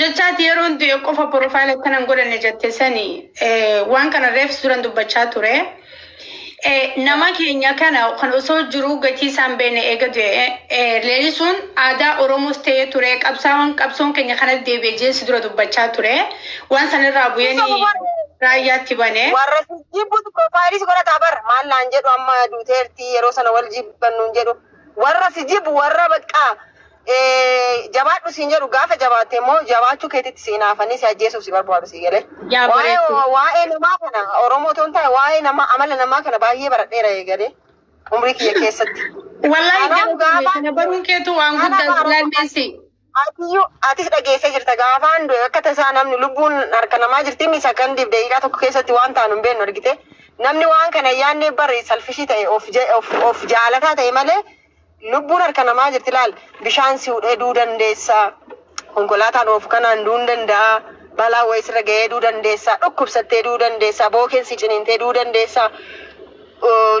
Jechaati yeroon du'e qofa profile akkana hin godhanne jette sani eh, waan kana reefs duran dubbachaa ture. Eh, Nama keenya kana kan osoo jiruu gatii isaan beene eega du'e eh, leelisuun aadaa Oromoos ta'ee ture qabsaawwan qabsoon keenya kanas deebi'e jeen si dura dubbachaa ture. Waan sanarraa bu'een raayyaatti bane. Warra jibbutu profaayiliis godhata bar maal naan jedhu amma duuteerti yeroo sana wal jibbannuun jedhu warra si jibbu warra baqqaa Jabaadhu siin jedhu gaafa jabaatte immoo jabaachuu keetitti si inaafanii si ajjeesuuf si barbaadu si galee. Yaa Waa'ee bareedduu. waa'ee namaa kana Oromoo otoo hin taane waa'ee namaa amala namaa kana baay'ee baradheera eegalee umrii kiyya keessatti. Wallaahi Kanaaf galatoomi. gaafaan Kana baruun keetu waan kana guddaa bara- lalleessi. Atiyyuu atis dhageessee jirta gaafaan du'e akka tasaa namni lubbuun harka namaa jirti inni sakandiif daqiiqaa tokko keessatti waan taanu hin beeknu argite namni waan kana yaannee bari salfishii ta'e of ja- of- of jaalataa ta'e malee Lubbuun harka namaa jirti laal bishaan si hudhee duu dandeessa konkolaataan oofu kanaan duun danda'a balaa wayii sirra ga'ee duu dandeessa dhukkubsattee duu dandeessa bookeen si ciniintee duu dandeessa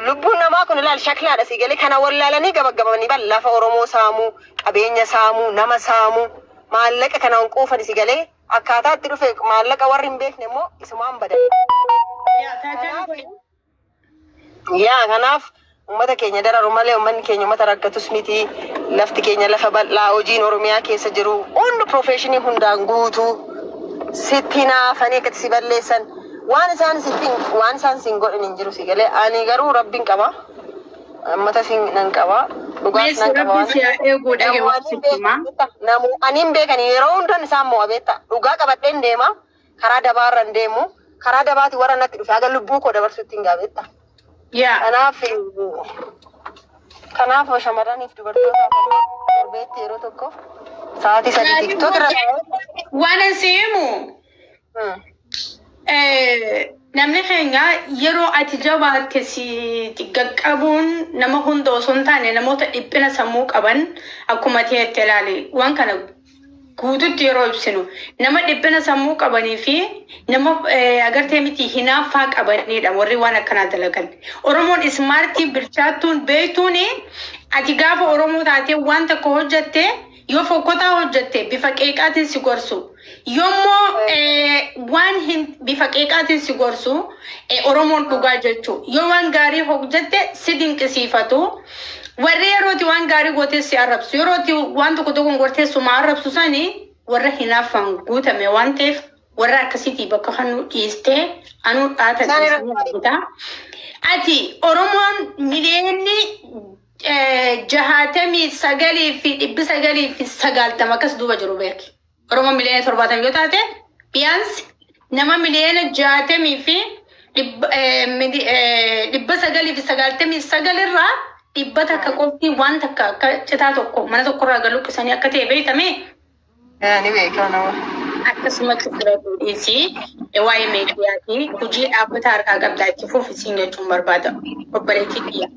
lubbuun namaa kun laal shaklaadha si galee kana wallaalanii gabaggabanii bal lafa oromoo saamuu qabeenya saamuu nama saamuu maallaqa kana hunquufani si galee akkaataa itti dhufe maallaqa warri hin beekne immoo isumaan badan. Yaa taataan Kanaaf kun Yaa kanaaf uummata keenya dararu malee uummanni keenya uummata rakkatus miti. Lafti keenya lafa bal'aa hojiin Oromiyaa keessa jiru hundi piroofeeshinii hundaan guutuu sitti naafanii akkatti si balleessan waan isaan sitti waan isaan siin godhan hin jiru si galee ani garuu rabbiin qaba uummata siin nan qaba dhugaas Meessi nan qaba rabbi waan si haa eeguu dhage waan namootiin sitti himaa. beekan namootiin beekan yeroo hundan isaan mo'a beekta dhugaa qabadheen deema karaa dabaa irra hin deemu. Karaa dabaati warra natti dhufe haga lubbuu koo dabarsutti hin gaabetta. Yaa. Kanaaf kanaaf shamarraniif dubartootaaf illee torbeetti yeroo tokko sa'aatii sadii tiktok irra taa'ee. Waan an si himu Hmm. eh, namni keenya yeroo ati jabaatte si gaqqabuun nama hunda osoo hin taane namoota dhiphina sammuu qaban akkuma ta'etti ilaali. Waan kana guututti yeroo ibsinu nama dhiphina sammuu qabanii fi nama eh, agartee miti hinaaffaa qabanidha warri waan akkanaa dalagan. Oromoon ismaartii bilchaattuun beektuun ati gaafa Oromoo taatee waan tokko hojjatte yoo fokkotaa hojjatte bifa qeeqaatiin si gorsu. Yommoo eh, waan hin bifa qeeqaatiin si gorsu eh, Oromoon dhugaa jechuu. Yoo waan gaarii hojjatte si dinqisiifatu. Warri yerooti waan gaarii gootee si arrabsu, yerooti waan tokko tokkoon gortee suma arrabsu sani warra hinaaffaan guutame waan ta'eef warra akkasiitii bakka kannuu dhiistee anuu dhaata Isaan irra dhiisanii argita. Ati Oromoon miliyoonni eh, jahaatamii sagalii fi dhibbi sagalii fi sagaaltama akkas duuba jiru beeki. Oromoo miliyoona torbaatamii yoo taate biyaansi nama miliyoona jaatamii fi dhibba eh, mili- eh, dhibba sagalii fi sagaaltamii sagal irraa dhibba takka qofti waan takka akka citaa tokko mana tokko irraa galu qisanii akka ta'e beekame Eh, ni beekaa nama. akkasumatti bira fuudhiisi waa'ee meediyaatiin hojii dhaabbataa harkaa qabdaa itti fuuf isiin jechuun barbaada obboleettii biyya.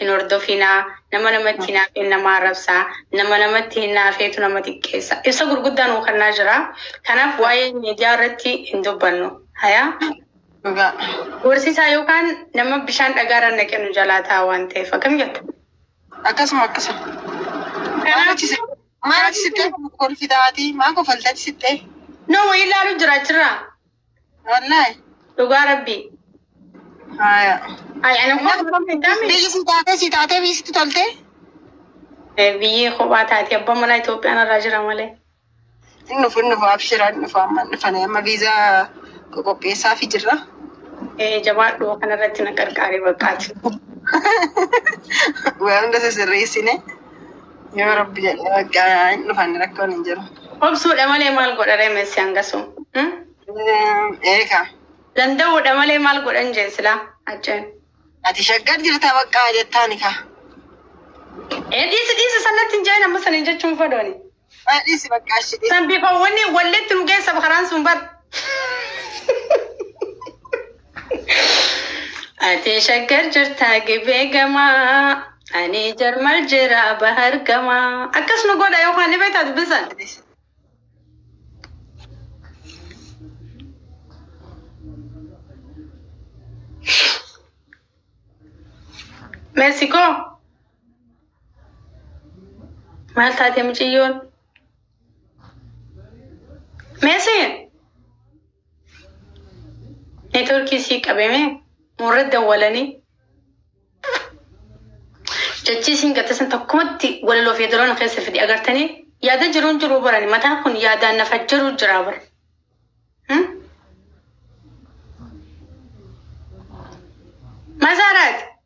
hin hordofinaa nama namatti hinaafeen nama arrabsaa nama namatti hinaafeetu nama xiqqeessa ibsa gurguddaa nuu kennaa jira kanaaf waa'ee miidiyaa irratti hin dubbannu hayaa Dhugaa. gorsisaa yookaan nama bishaan dhagaarra naqe nu jalaa ta'a waan ta'eef akkam jetta Akkasuma akkasuma. Maal kanaaf achi sitte? Maal achi sitte? Kolfi taati. Maa kofalta achi sitte? nama wayii ilaalu jira jira Wallahi. Dhugaa rabbii. Haya. Ay, ana Amma kophaa kophaa hin taane. biyyi si taatee si taatee biyyi sitti toltee. Eh, Biyyee kophaa taate abbaa manaa Itoophiyaan irraa jira malee. Hin dhufu hin dhufu abshira hin dhufu amma hin dhufane amma viizaa qopheessaa fi jirra. Eh, jabaadhu kana irratti na qarqaari baqqaati. Waan hunda sirreessine. Yoo rabbi jedhe bakka hin dhufan rakkoon hin jiru. Obsuudha malee maal godha reemessi hangasu? Hmm? Eeka. Danda'uudha malee maal godhan jeen silaa hacceen. Ati shaggar jirta bakka jettaani ka. Ee dhiisi dhiisi sanatti hin jeen amma saniin jechuun fadooni. Dhiisi bakka ashi dhiisi. San bifa wanni walleetti nu geessa karaan sun bar. Ati shaggar jirtaa gibee gamaa. Ani jarmal jira bahar gamaa. Akkas nu godha yookaan ni beektaa dubbisan. Meesikoo. Maal taate mucayyoon? Meesee neetworkii sii qabeme murra dawwalanii jechii siin gattesan tokkumatti walaloo fi yeedaloon keessa fidi agartanii yaada jiruun jiruu barani mataan kun yaadaan nafa jiru jiraa bara. Hmm? Masaaraati.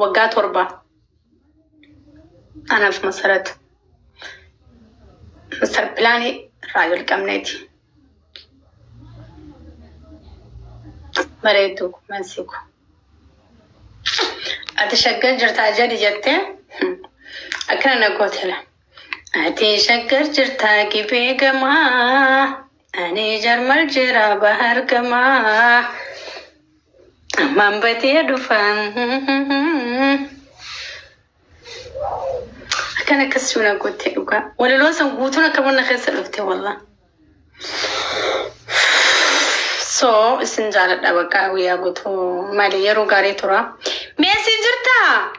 waggaa torba anaaf masarat masar pilaanii irraa jalqabneeti bareedu mansiku ati shaggar jirtaa jedhi jettee akkana na gootela ati shaggar jirtaa gibee gamaa Ani jarmal jira bahar gama ammaan batee dhufaan akkan akkas suuna goottee dhugaa walaloo san guutuun akka mana keessa dhufte wallah so isin jaaladha bakka guyyaa guutuu maali yeroo gaarii tura meesii jirtaa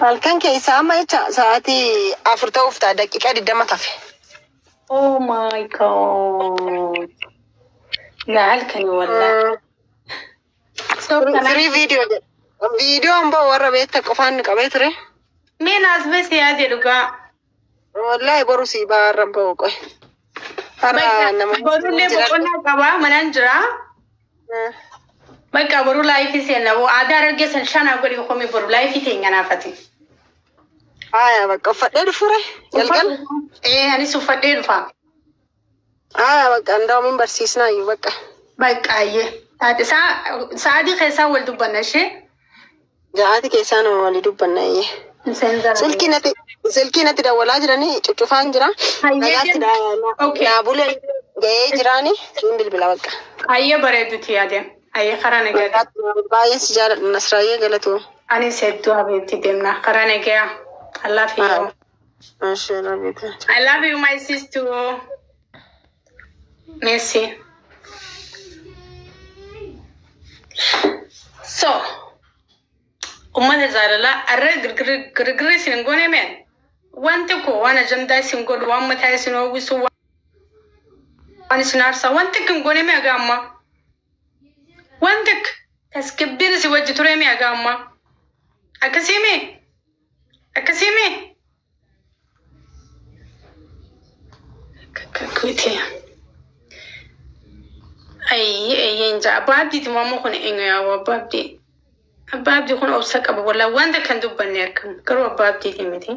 Halkan keessaa amma jecha sa'aatii afur ta'uuf ta'a daqiiqaa digdama tafe. Oh my god. Yaa halkani wallaahi. So kana Firii viidiyoo jedha. Viidiyoon ba'u warra beekta qofaan qabee ture. mee naas bee siyaa jedhu gaa. Wallaahi boru sii baa har'an ba'u qoy. Har'a nama Borullee boqonnaa qabaa manaan jiraa. Eh, Bakka boru laayifii seenna boo aadaa dargaggeessan shaanaa godhi komii boru laayifii teenya naafati. Haaya bakka uffadhee dhufuure jalqaba. Ee anis uffadhee dhufa. Aya bakka andaa'u min barsiisnaa iyyuu bakka. Baqqaayyee. Haati isaa sa'aatii keessaa wal dubbanna ishee. Ja'aati keessaa nama walii dubbanna iyyee. Isheen jala. Silkii natti silkii natti dawwalaa jiranii cuccufaan jira. Hayyee Nagaatti deem. daa- Okay. naa bulee ga'ee jiraani siin bilbila bakka. Hayyee bareeduti adeem. Hayyee karaa nagaadha. Nagaatti naa buli. Baay'een si jaaladha Nasraayyee galatoo. Anis hedduu habiibti deemna. Karaa nagaa. Allaa fi Haa. yeroo. I love you my sister. Merci. So, ummata jaalalaa arra girgirri isin hin goone meen wanti koo waan ajandaa isin godhu waan mataa isin hawwisu waan isin aarsaa wanti akka hin goone mee haga ammaa wanti akka tasgabbiin isin wajji ture mee haga ammaa akkasii mee Akkasiimi. Kakkuuti. Ayyi ayyiin jaa abbaa abdiiti moo ammoo kun eenyu yaa abbaa abdii. Abbaa abdii kun obsa qaba walaa wanta kan dubbanne akkam garuu abbaa abdiiti miti.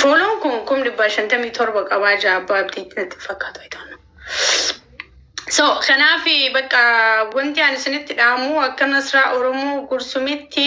Fooloon kun kum dhibbaa shantamii torba qabaa jaa abbaa abdiiti natti fakkaatu ayitoonna. So kanaaf bakka wanti ani isinitti dhaamu akka masraa Oromoo gursumitti.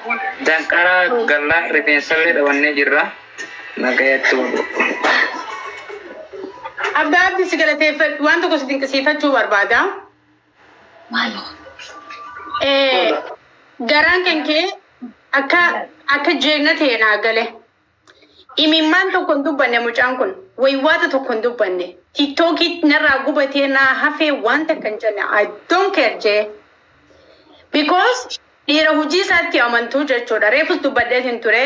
Danqaraa galla rifeensallee dhabannee jirra. Nagayatti wabo. Abbaa Abdi si galateeffadhu waan tokko si dinqisiifachuu barbaada. Eh, Garaan kan kee akka akka jeegna ta'e naa gale. Imimmaan tokko hin dubbanne mucaan kun. Waywaata tokko hin dubbanne. Tiktoki narraa gubatee naa hafee waan takka hin jenne. I don't care J. Because dhiira hujii isaatti amantu jechuudha. Reefus dubbadheetiin ture.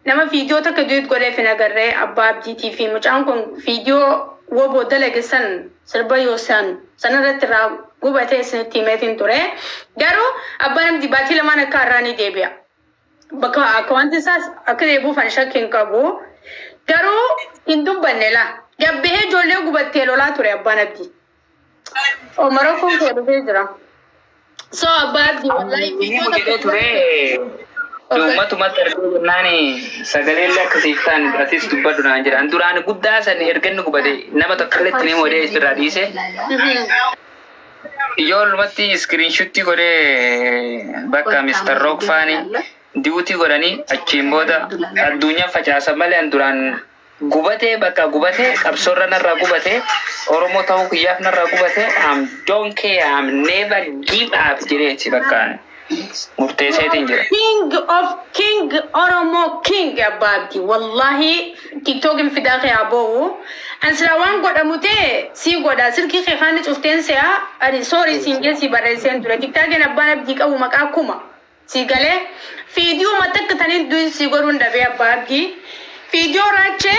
Nama viidiyoo takka duet godheef hin agarre abbaa abdiitii fi mucaan kun viidiyoo woboo dalage san sirba yoosan sanarratti irraa gubatee isinitti himeetiin ture. Garuu abbaan abdii baatii lamaan akka har'aa ni deebi'a. Bakka akkawanti isaas akka deebi'uuf ani shakki hin qabu. Garuu hin dubbanne laa. Gabbihee ijoollee gubattee lolaa ture abbaan abdii. Omara kun koo dhufee jira. So abbaa abdii wallahi Inni viidiyoo mudatee takka ture Okay. uummatumatti argee jennaan sagalee illee akkasiif ta'an atis dubbadhu naan jedhan. Duraan guddaa san erga inni gubate nama tokko illee itti himuu dee irraa dhiise. Mhm. Ijoollumatti iskiriinshuttii godhee bakka Mr. Rock faani diwutii godhanii achiin booda addunyaa facaasa malee an duraan gubatee bakka gubatee qabsoorra narraa gubatee Oromoo ta'uu kiyyaaf narraa gubatee am don't care am never give up jedheeti bakka murteesseetiin jira. King of King Oromo King abbaa abdi wallahi tiktokin fidaa kee aboowu an silaa waan godhamu ta'e sii godha silkii kee kaanni cufteen se'a ani sorry siin jee sii barreesseen ture tiktaakeen abbaan abdii qabu maqaa kuma sii galee fiidiyoo matakka taniin duin sii godhuun dhabee abbaa abdii fiidiyoo raachee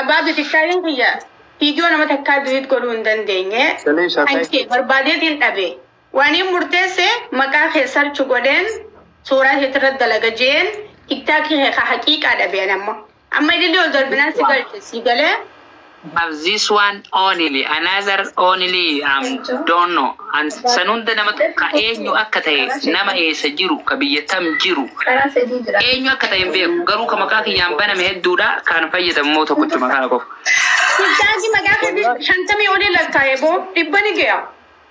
Abbaa Bitikaayin kiyya viidiyoo nama takkaa diliit godhuu hin dandeenye. Shalii Kan shakai. kee barbaadeetiin dhabe. Waaniin murteesse maqaa kee sarchi godheen suuraa keetirra dalaga jeen tiktaakii kee ka haqiiqaa dhabe ani amma. Amma ilillee ol darbinaan si galche si galee But this one only, another only am don't know and san hunda nama tokka eenyu akka tahe nama eessa jiru ka biyya tam jiru eenyu akka tahe hin beeku garuu ka maqaa kiyyaan baname hedduudha kaan fayyadamu immoo tokkochuma kana qofa. Ustaazii maqaa keetii shantamii olii lakkaa'e boo dhibba ni ge'a.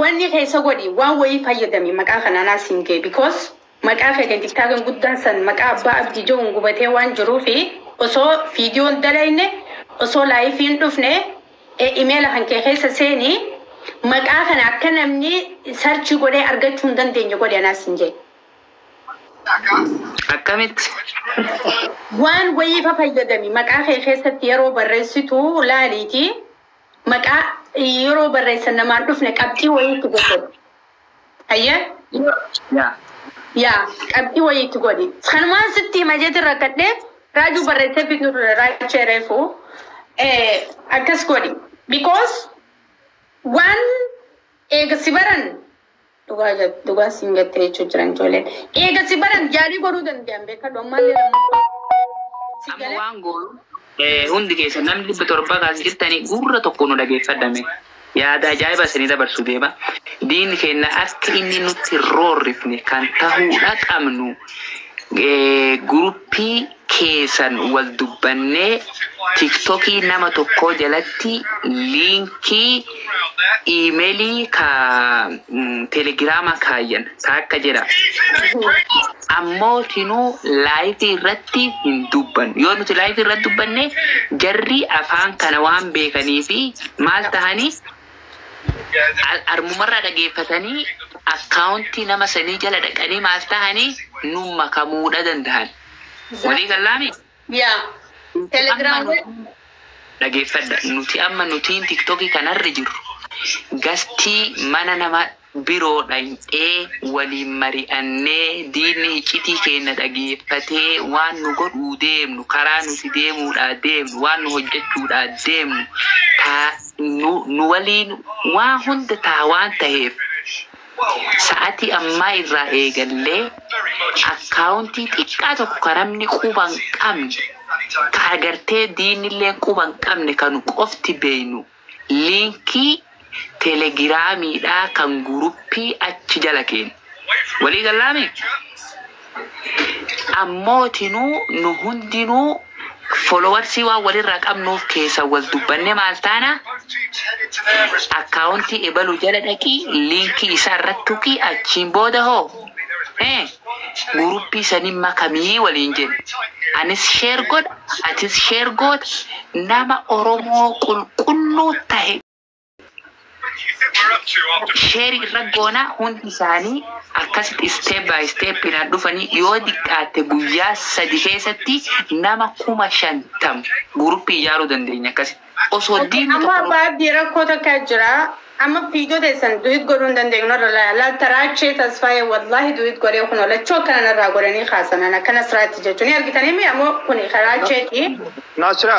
Wanni keessa godhi waan wayii fayyadami maqaa kan anaa siin ga'e because maqaa keetiin tiktaakin guddaan san maqaa abbaa abdii ja'uun gubatee waan jiruufi osoo viidiyoon dalayne osoo laayifiin dhufne imeela kan kee keessa seeni maqaa kana akka namni sarchii godhee argachuu hin dandeenye godhi anaa siin ja'e. akkamitti? Waan wayii fa fayyadami. Maqaa kee keessatti yeroo barreessitu laaliiti maqaa yeroo barreessan namaan dhufne qabxii wayii itti godhi. Hayyee? Yaa. Yaa, qabxii wayii itti godhi. Kanumaan sitti hima jeetiin rakkadhee Raajuu barreessee fiduu ture Raachee reefu. Eh, akkas godhi. Because waan eega si baran Dhugaa jette dhugaa siin gattee jechuu jiran ijoolleen. Eega si baran jaalii godhuu danda'an beekadhu ammaallee lammaffaa. Si Amma galee waan goonu eh, hundi keessan namni dhibba torba kaas jirtanii gurra tokko nu dhageeffadhame. Yaada ajaa'iba isinii dabarsu deema. Diinni keenya akka inni nutti hin roorrifne kan tahuudha qabnu eh, guruppii keesan wal dubbannee tiktokii nama tokkoo jalatti liinkii imelii ka telegirama kaayyan taakka jira ammoo tinuu live irratti hin dubbannu yoo nuti live irratti dubbanne jarri afaan kana waan beekaniifi maal tahani armumarraa dhageeffatanii account nama sanii jala dhaqanii maal tahani nun makamuudha dandahan. Walii gallaami? Yaa. Telegram. Dhageeffadha. Nuti amma nutiin tiktoki kanarra jirru gastii mana nama biroo dhayxee waliin mari'annee diinni hiccitii keenna dhageeffatee waan nu godhuu deemnu karaa nuti deemuudhaa deemnu waan nu hojjachuudhaa deemnu taa nu waliin waa hunda taa waan taheef Sa'atii ammaa irraa eegallee akkaawuntii xiqqaa tokko ka namni quba hin qabne, ka agartee diinnilleen quba hin qabne ka nu qofti beeynu liinkii telegiraamiidhaa kan guruppii achi jala keenna. Walii gallaamii? Ammootinuu nu hundinuu followers waan walirraa qabnuuf keessa wal dubbanne maal taana account ebalu jala dhaqii link isaa irratti tuqii achiin booda hoo eh guruppii sanin makamii waliin jenna anis share godha atis share goota nama oromoo qulqulluu tahe Sheeri irra goona hundi isaanii akkasitti step by step dhaan dhufanii yoo diqqaatte guyyaa sadi keessatti nama kuma shantam group ijaaruu dandeenya akkasitti. Osoo Okay, diinni amma tokko nu baabdii rakkoo takka jira. Amma fiidoo teessan duwit godhuu hin dandeenyu narra laa- laal taraachee tasfaayee wallaahi duwit godhee kunoo lachuu akkana narraa godhanii kaasanan akkana siraatti jechuun ni argitanii mi ammoo kuni karaacheeti. Nasra.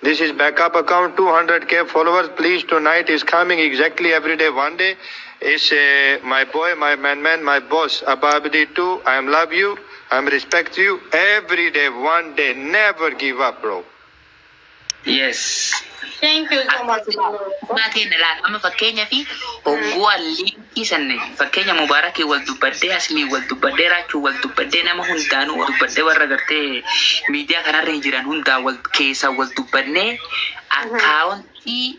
This is backup account 200k followers please tonight is coming exactly every day one day is uh, my boy my man man my boss abba abdi too i am love you i am respect you every day one day never give up bro Yes. Thank you so much. Akkuma ta'e na laata. Amma fakkeenyaaf ogguwaan dhiisanne fakkeenya mubarakii wal dubbadhee asmii wal dubbadhee raachuu wal dubbadhee nama hundaanuu wal dubbadhee warra gartee miidiyaa kanarra jiran hundaa wal keessaa wal dubbadnee akkaawontii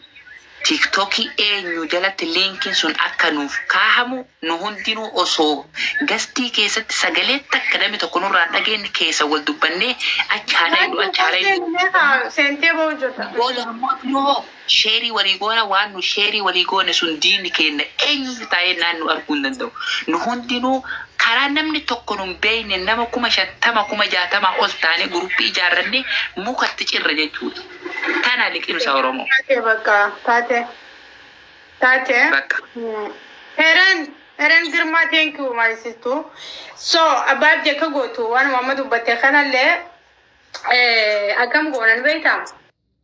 tiktokii eenyu jalatti liinkiin sun akka nuuf kaahamu nu hundinuu osoo gastii keessatti sagalee takka namni tokko nurraa hin dhageenye keessa wal dubbannee achi haa dhaynu achi haa dhaynu Sentee boo hojjeta. booda ammoo kunoo Sheerii walii goona waan nu sheerii walii goone sun diinni keenna eenyuyyuu taa'ee naan nu arguu hin danda'u. Nu hundinuu karaa namni tokko nu hin beekneen nama kuma shantama kuma jaatamaa ol taanee guruppii ijaarrannee muka itti cirra jechuudha. Tana liqimsa Oromoo. Taate bakka taate taate Bakka. Heren Heren Girma thank you my sister so abbaaf jekka gootu waanuma amma dubbatte kanallee eh, akkam goonan beektaa